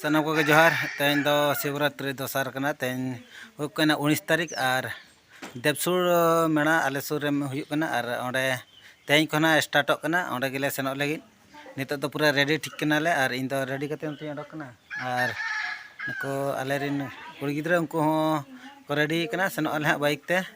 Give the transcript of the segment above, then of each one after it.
ᱥᱟᱱᱟᱢ ᱠᱚᱜᱮ ᱡᱚᱦᱟᱨ ᱛᱮᱦᱮᱧ ᱫᱚ ᱥᱤᱵᱨᱟᱛᱨᱤ ᱫᱚᱥᱟᱨ ᱠᱟᱱᱟ ᱛᱮᱦᱮᱧ ᱦᱩᱭᱩᱜ ᱠᱟᱱᱟ ᱩᱱᱤᱥ ᱛᱟᱹᱨᱤᱠᱷ ᱟᱨ ᱫᱮᱵᱥᱩᱨ ᱢᱮᱲᱟ ᱟᱞᱮ ᱥᱩᱨ ᱨᱮ ᱦᱩᱭᱩᱜ ᱠᱟᱱᱟ ᱟᱨ ᱚᱸᱰᱮ ᱛᱮᱦᱮᱧ ᱠᱷᱚᱱᱟᱜ ᱥᱴᱟᱨᱴᱚᱜ ᱠᱟᱱᱟ ᱚᱸᱰᱮ ᱜᱮᱞᱮ ᱥᱮᱱᱚᱜ ᱞᱟᱹᱜᱤᱫ ᱱᱤᱛᱚᱜ ᱫᱚ ᱯᱩᱨᱟᱹ ᱨᱮᱰᱤ ᱴᱷᱤᱠ ᱠᱟᱱᱟᱞᱮ ᱟᱨ ᱤᱧ ᱫᱚ ᱨᱮᱰᱤ ᱠᱟᱛᱮ ᱱᱤᱛᱚᱜ ᱤᱧ ᱚᱰᱚᱠ ᱠᱟᱱᱟ ᱟᱨ ᱱᱩᱠᱩ ᱟᱞᱮᱨᱮᱱ ᱠᱩᱲᱤ ᱜᱤᱫᱽᱨᱟᱹ ᱩᱱᱠᱩ ᱦᱚᱸ ᱠᱚ ᱨᱮᱰᱤ ᱠᱟᱱᱟ ᱥᱮᱱᱚᱜ ᱟᱞᱮ ᱦᱟᱸᱜ ᱵᱟᱭᱤᱠ ᱛᱮ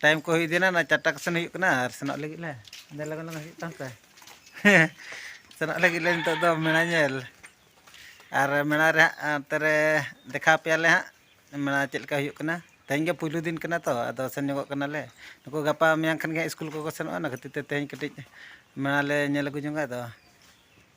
ᱴᱟᱭᱤᱢ ᱠᱚ ᱦᱩᱭ ᱤᱫᱤᱭᱮᱱᱟ ᱚᱱᱟ ᱪᱟᱨᱴᱟ ᱠᱚᱥᱮᱱ ᱦᱩᱭᱩᱜ ᱠᱟᱱᱟ ᱟᱨ ᱥᱮᱱᱚᱜ ᱞᱟᱹᱜᱤᱫ ᱞᱮ ᱟᱫᱚ ᱞᱚᱜᱚᱱ ᱞᱚᱜᱚᱱ ᱦᱩᱭᱩᱜ ᱛᱟᱢ ᱛᱮ ᱥᱮᱱᱚᱜ ᱞᱟᱹᱜᱤᱫ ᱞᱮ ᱱᱤᱛᱚᱜ ᱫᱚ ᱢᱮᱞᱟ ᱧᱮᱞ ᱟᱨ ᱢᱮᱞᱟ ᱨᱮ ᱦᱟᱸᱜ ᱚᱱᱛᱮ ᱨᱮ ᱫᱮᱠᱷᱟᱣ ᱯᱮᱭᱟᱞᱮ ᱦᱟᱸᱜ ᱢᱮᱞᱟ ᱪᱮᱫ ᱞᱮᱠᱟ ᱦᱩᱭᱩᱜ ᱠᱟᱱᱟ ᱛᱮᱦᱮᱧ ᱜᱮ ᱯᱳᱭᱞᱳ ᱫᱤᱱ ᱠᱟᱱᱟ ᱛᱚ ᱟᱫᱚ ᱥᱮᱱ ᱧᱚᱜᱚᱜ ᱠᱟᱱᱟᱞᱮ ᱱᱩᱠᱩ ᱜᱟᱯᱟ ᱢᱮᱭᱟᱝ ᱠᱷᱟᱱ ᱜᱮ ᱥᱠᱩᱞ ᱠᱚᱠᱚ ᱥᱮᱱᱚᱜᱼᱟ ᱚᱱᱟ ᱠᱷᱟᱹᱛᱤᱨ ᱛᱮ ᱛᱮᱦᱮᱧ ᱠᱟᱹᱴᱤᱡ ᱢᱮᱞᱟ ᱞᱮ ᱧᱮᱞ ᱟᱹᱜᱩ ᱧᱚᱜᱟ ᱟᱫᱚ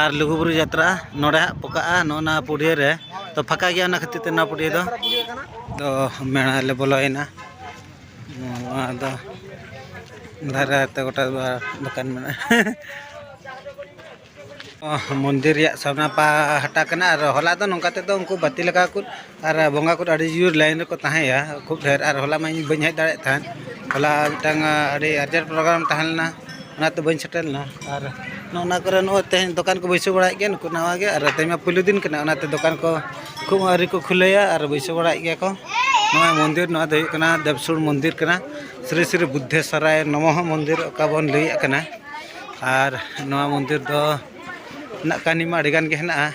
ᱟᱨ ᱞᱩᱜᱩᱵᱩᱨᱩ ᱡᱟᱛᱨᱟ ᱱᱚᱰᱮ ᱦᱟᱸᱜ ᱯᱚᱠᱟᱜᱼᱟ ᱱᱚᱜᱼᱚ ᱱᱟ ᱯᱩᱰᱷᱤᱭᱟᱹ ᱨᱮ ᱛᱚ ᱯᱷᱟᱸᱠᱟ ᱜᱮᱭᱟ ᱚᱱᱟ ᱠᱷᱟᱹᱛᱤᱨ ᱛᱮ ᱱᱚᱣᱟ ᱯᱩᱰᱷᱤᱭᱟᱹ ᱫᱚ ᱛᱚ ᱢᱮᱬᱟ ᱞᱮ ᱵᱚᱞᱚᱭᱮᱱᱟ ᱱᱚᱣᱟ ᱫᱚ ᱫᱷᱟᱨᱮ ᱛᱮ ᱜᱚᱴᱟ ᱫᱚᱠᱟᱱ ᱢᱮᱱᱟᱜᱼᱟ ᱢᱚᱱᱫᱤᱨ ᱨᱮᱭᱟᱜ ᱥᱟᱢᱱᱟ ᱯᱟᱦᱴᱟ ᱠᱟᱱᱟ ᱟᱨ ᱦᱚᱞᱟ ᱫᱚ ᱱᱚᱝᱠᱟ ᱛᱮᱫᱚ ᱩᱱᱠᱩ ᱵᱟᱹᱛᱤ ᱞᱟᱜᱟᱣ ᱠᱚ ᱟᱨ ᱵᱚᱸᱜᱟ ᱠᱚᱫᱚ ᱟᱹᱰᱤ ᱡᱳᱨ ᱞᱟᱭᱤᱱ ᱨᱮᱠᱚ ᱛᱟᱦᱮᱸᱭᱟ ᱠᱷᱩᱵ ᱰᱷᱮᱨ ᱟᱨ ᱦᱚᱞᱟ ᱢᱟ ᱤᱧ ᱵᱟᱹᱧ ᱦᱮᱡ ᱫᱟᱲᱮᱭᱟᱜ ᱛᱟᱦᱮᱸᱫ ᱦᱚᱞᱟ ᱢᱤᱫᱴᱟᱝ ᱟᱹᱰᱤ ᱟᱨᱡᱮᱱᱴ ᱯᱨᱳᱜᱨᱟᱢ ᱛᱟᱦᱮᱸ ᱞᱮᱱᱟ ᱚᱱᱟᱛᱮ ᱵᱟᱹᱧ ᱥᱮᱴᱮᱨ ᱞᱮᱱᱟ ᱟᱨ ᱱᱚᱜᱼᱚ ᱱᱟ ᱠᱚᱨᱮ ᱱᱚᱜᱼᱚᱭ ᱛᱮᱦᱮᱧ ᱫᱚᱠᱟᱱ ᱠᱚ ᱵᱟᱹᱭᱥᱟᱹᱣ ᱵᱟᱲᱟᱭᱮᱫ ᱜᱮᱭᱟ ᱱᱩᱠᱩ ᱱᱟᱣᱟ ᱜᱮ ᱟᱨ ᱛᱮᱦᱮᱧ ᱢᱟ ᱯᱳᱭᱞᱳ ᱫᱤᱱ ᱠᱟᱱᱟ ᱚᱱᱟᱛᱮ ᱫᱚᱠᱟᱱ ᱠᱚ ᱠᱷᱩᱵ ᱟᱹᱣᱨᱤ ᱠᱚ ᱠᱷᱩᱞᱟᱹᱭᱟ ᱟᱨ ᱵᱟᱹᱭᱥᱟᱹᱣ ᱵᱟᱲᱟᱭᱮᱫ ᱜᱮᱭᱟ ᱠᱚ ᱱᱚᱣᱟ ᱢᱚᱱᱫᱤᱨ ᱱᱚᱣᱟ ᱫᱚ ᱦᱩᱭᱩᱜ ᱠᱟᱱᱟ ᱫᱮᱵᱽᱥᱩᱲ ᱢᱚᱱᱫᱤᱨ ᱠᱟᱱᱟ ᱥᱨᱤ ᱥᱨᱤ ᱵᱩᱫᱽᱫᱷᱮᱥᱥᱚᱨᱟᱭ ᱱᱚᱢᱚ ᱢᱚᱱᱫᱤᱨ ᱚᱠᱟ ᱵᱚᱱ ᱞᱟᱹᱭᱮᱫ ᱠᱟᱱᱟ ᱟᱨ ᱱᱚᱣᱟ ᱢᱚᱱᱫᱤᱨ ᱫᱚ ᱨᱮᱱᱟᱜ ᱠᱟᱹᱦᱱᱤ ᱢᱟ ᱟᱹᱰᱤ ᱜᱟᱱ ᱜᱮ ᱦᱮᱱᱟᱜᱼᱟ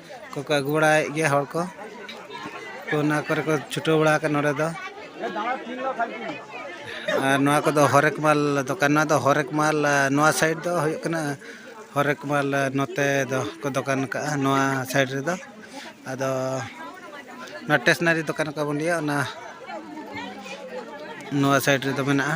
ᱠᱚᱠᱚ ᱟᱹᱜᱩ ᱵᱟᱲᱟᱭᱮᱫ ᱜᱮᱭᱟ ᱦᱚᱲ ᱠᱚ ᱛᱚ ᱚᱱᱟ ᱠᱚᱨᱮ ᱠᱚ ᱪᱷᱩᱴᱟᱹᱣ ᱵᱟᱲᱟ ᱟᱠᱟᱱᱟ ᱱᱚᱰᱮ ᱫᱚ ᱟᱨ ᱱᱚᱣᱟ ᱠᱚᱫᱚ ᱦᱚᱨᱮᱠ ᱢᱟᱞ ᱫᱚᱠᱟᱱ ᱱᱚᱣᱟ ᱫᱚ ᱦᱚᱨᱮᱠ ᱢᱟᱞ ᱱᱚᱣᱟ ᱥᱟᱭᱤᱰ ᱫᱚ ᱦᱩᱭᱩᱜ ᱠᱟᱱᱟ ᱦᱚᱨᱮᱠ ᱢᱟᱞ ᱱᱚᱛᱮ ᱫᱚ ᱠᱚ ᱫᱚᱠᱟᱱ ᱠᱟᱜᱼᱟ ᱱᱚᱣᱟ ᱥᱟᱭᱤᱰ ᱨᱮᱫᱚ ᱟᱫᱚ ᱱᱚᱣᱟ ᱴᱮᱥᱱᱟᱨᱤ ᱫᱚᱠᱟᱱ ᱚᱠᱟ ᱵᱚᱱ ᱞᱟᱹᱭᱟ ᱚᱱᱟ ᱱᱚᱣᱟ ᱥᱟᱭᱤᱰ ᱨᱮᱫᱚ ᱢᱮᱱᱟᱜᱼᱟ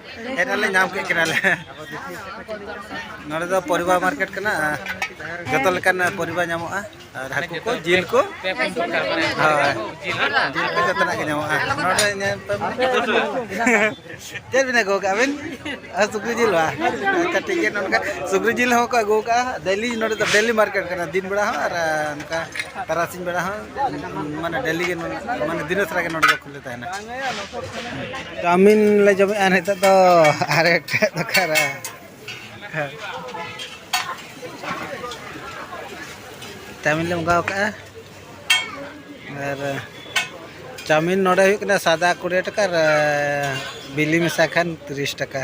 ᱦᱮᱡᱱᱟᱞᱮ ᱧᱟᱢ ᱠᱮᱫ ᱠᱤᱱᱟᱞᱮ ᱱᱚᱰᱮ ᱫᱚ ᱯᱚᱨᱤᱵᱟ ᱢᱟᱨᱠᱮᱴ ᱠᱟᱱᱟ ᱡᱚᱛᱚ ᱞᱮᱠᱟᱱ ᱯᱚᱨᱤᱵᱟ ᱧᱟᱢᱚᱜᱼᱟ ᱟᱨ ᱦᱟᱹᱠᱩ ᱠᱚ ᱡᱤᱞ ᱠᱚ ᱦᱳᱭ ᱡᱤᱞ ᱠᱚ ᱡᱚᱛᱚᱱᱟᱜ ᱜᱮ ᱧᱟᱢᱚᱜᱼᱟ ᱱᱚᱰᱮ ᱧᱮᱞ ᱪᱮᱫ ᱵᱤᱱ ᱟᱹᱜᱩ ᱠᱟᱜᱼᱟ ᱵᱤᱱ ᱥᱩᱠᱨᱤ ᱡᱤᱞ ᱵᱟ ᱟᱪᱪᱷᱟ ᱴᱷᱤᱠ ᱜᱮᱭᱟ ᱱᱚᱝᱠᱟ ᱥᱩᱠᱨᱤ ᱡᱤᱞ ᱦᱚᱸ ᱠᱚ ᱟᱹᱜᱩ ᱠᱟᱜᱼᱟ ᱰᱮᱞᱤ ᱱᱚᱰᱮ ᱫᱚ ᱰᱮᱞᱤ ᱢᱟᱨᱠᱮᱴ ᱠᱟᱱᱟ ᱫᱤᱱ ᱵᱮᱲᱟ ᱦᱚᱸ ᱟᱨ ᱱᱚᱝᱠᱟ ᱛᱟᱨᱟᱥᱤᱧ ᱵᱮᱲᱟ ᱦᱚᱸ ᱢᱟᱱᱮ ᱰᱮᱞᱤ ᱜᱮ ᱢᱟᱱᱮ ᱫᱤᱱᱟᱹ ᱥᱟᱨᱟ ᱜᱮ ᱱᱚᱰᱮ ᱫᱚ ᱪᱟᱣᱢᱤᱱ ᱞᱮ ᱡᱚᱢᱮᱫᱼᱟ ᱱᱤᱛᱚᱜ ᱫᱚ ᱟᱨ ᱮᱴᱟᱜ ᱫᱚᱠᱟᱱ ᱨᱮ ᱪᱟᱣᱢᱤᱱ ᱞᱮ ᱢᱚᱸᱜᱟᱣ ᱠᱟᱜᱼᱟ ᱟᱨ ᱪᱟᱣᱢᱤᱱ ᱱᱚᱰᱮ ᱦᱩᱭᱩᱜ ᱠᱟᱱᱟ ᱥᱟᱫᱟ ᱠᱩᱲᱤ ᱴᱟᱠᱟ ᱟᱨ ᱵᱤᱞᱤ ᱢᱮᱥᱟ ᱠᱷᱟᱱ ᱛᱤᱨᱤᱥ ᱴᱟᱠᱟ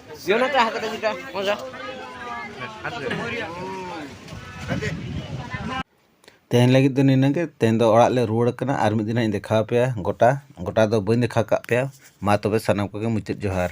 ᱛᱮᱦᱮᱧ ᱞᱟᱹᱜᱤᱫ ᱫᱚ ᱱᱤᱱᱟᱹᱜ ᱜᱮ ᱛᱮᱦᱮᱧ ᱫᱚ ᱚᱲᱟᱜ ᱞᱮ ᱨᱩᱣᱟᱹᱲ ᱠᱟᱱᱟ ᱟᱨ ᱢᱤᱫ ᱫᱤᱱ ᱦᱟᱸᱜ ᱤᱧ ᱫᱮᱠᱷᱟᱣ ᱟᱯᱮᱭᱟ ᱜᱚᱴᱟ ᱜᱚᱴᱟ ᱫᱚ ᱵᱟᱹᱧ ᱫᱮᱠᱷᱟᱣ ᱠᱟᱜ ᱯᱮᱭᱟ ᱢᱟ ᱛᱚᱵᱮ ᱥᱟᱱᱟᱢ ᱠᱚᱜᱮ ᱢᱩᱪᱟᱹᱫ ᱡᱚᱦᱟᱨ